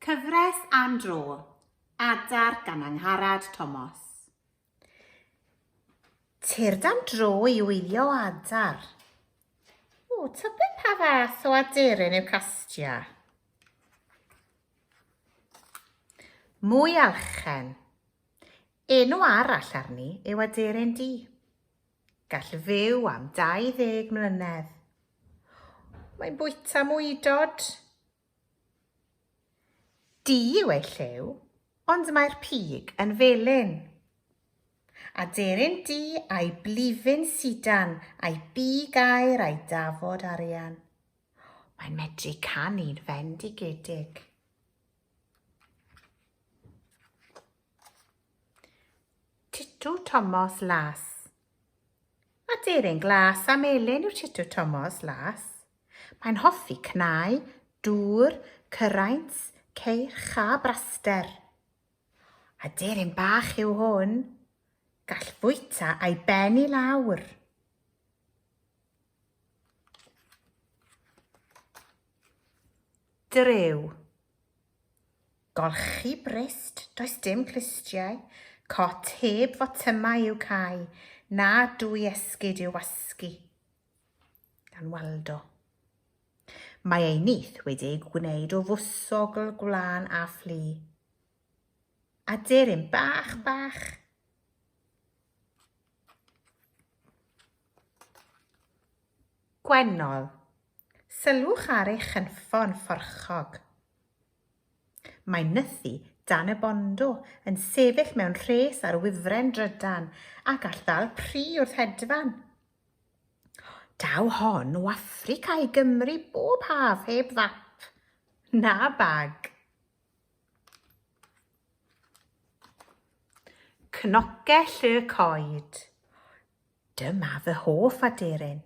Cyfres am dro, Adar gan Angharad Tomos. Tyrd am dro i wylio adar. O, tybed pa fath o aderyn yw castia? Mwy alchen. Enw arall arni yw aderyn di. Gall fyw am 20 mlynedd. Mae'n bwyta mwydod. Du yw ei lliw, ond mae'r pig yn felyn. Aderyn du a'i blifyn sidan a'i bu gair a'i dafod arian. Mae'n medru canu'n fendigedig. Titw Tomos Las Aderyn glas a melyn yw Titw Tomos Las. Mae'n hoffi cnau, dŵr, cyraint, ceirch a braster. Aderyn bach yw hwn. Gall fwyta a'i ben i lawr. Drew Golchi brist, does dim clustiau, cot heb fotymau i'w cau, na dwy esgid i'w wasgu. Gan Waldo. Mae ei nith wedi ei gwneud o fwsogl gwlân a fflu. Aderyn bach bach. Gwennol, Sylwch ar ei chynffon fforchog. Mae nythu dan y bondo yn sefyll mewn rhes ar wifren drydan ac all ddal pri wrth hedfan. Daw hon o Affrica i Gymru bob haf heb fap na bag. Cnocell y coed. Dyma fy hoff aderyn.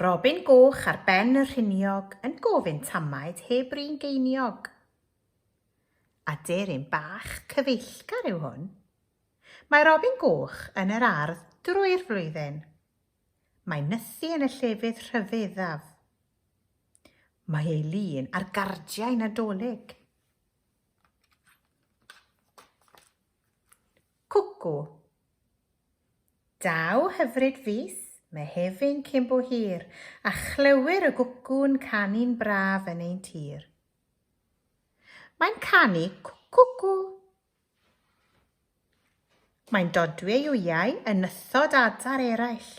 Robin Goch ar ben y rhiniog yn gofyn tamaid heb rin geiniog. Aderyn bach cyfeillgar yw hwn. Mae Robin Goch yn yr ardd drwy'r flwyddyn. Mae nythu yn y llefydd rhyfeddaf. Mae ei lun ar gardiau Nadolig. Cwcw, Daw hyfryd fis Mehefin cyn bo hir, a chlywir y gwcw'n canu'n braf yn ein tir. Mae'n canu cwcwcw. Mae'n dodwy ei wyau yn nythod adar eraill.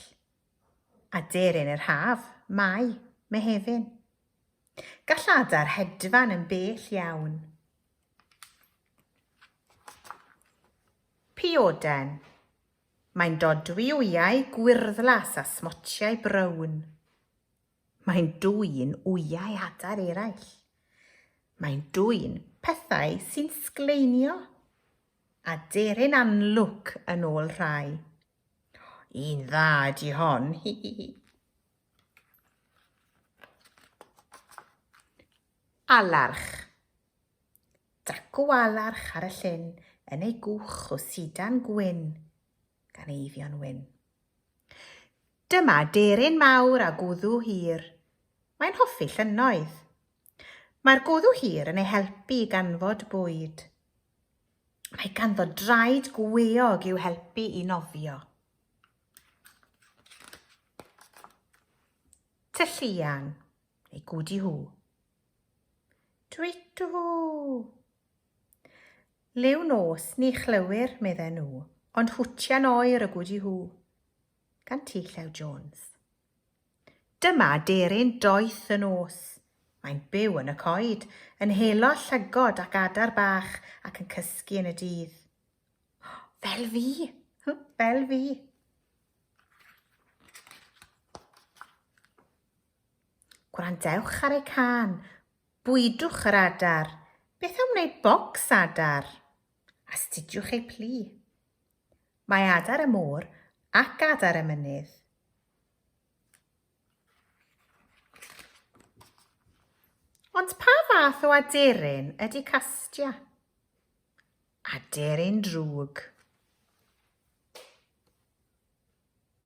Aderyn yr haf, Mai, Mehefin. Gall adar hedfan yn bell iawn. Pioden. Mae'n dodwy wyau gwyrddlas a smotiau brown. Mae'n dwyn wyau adar eraill. Mae'n dwyn pethau sy'n sgleinio. Aderyn anlwc yn ôl rhai. Un dda ydi hon, hi hi hi. Alarch. Dacw-alarch ar y llyn yn ei gwch o sidan gwyn gan eiddio'n wyn. Dyma deryn mawr a gwddw hir. Mae'n hoffi llynnoedd. Mae'r gwddw hir yn ei helpu i ganfod bwyd. Mae ganddo draed gweog i'w helpu i nofio. Tylluan, neu gwdi hw. Dwytw! Liw nos ni chlywir, medden nhw, ond hwtian oer y gwdi hw. Gan T. Llew Jones. Dyma deryn doeth y nos. Mae'n byw yn y coed, yn helo llygod ac adar bach ac yn cysgu yn y dydd. Fel fi! Fel fi! Gwrandewch ar ei cân. Bwydwch yr adar. Beth am wneud bocs adar? Astudiwch ei plu. Mae adar y môr ac adar y mynydd. Ond pa fath o aderyn ydy castia? Aderyn drwg.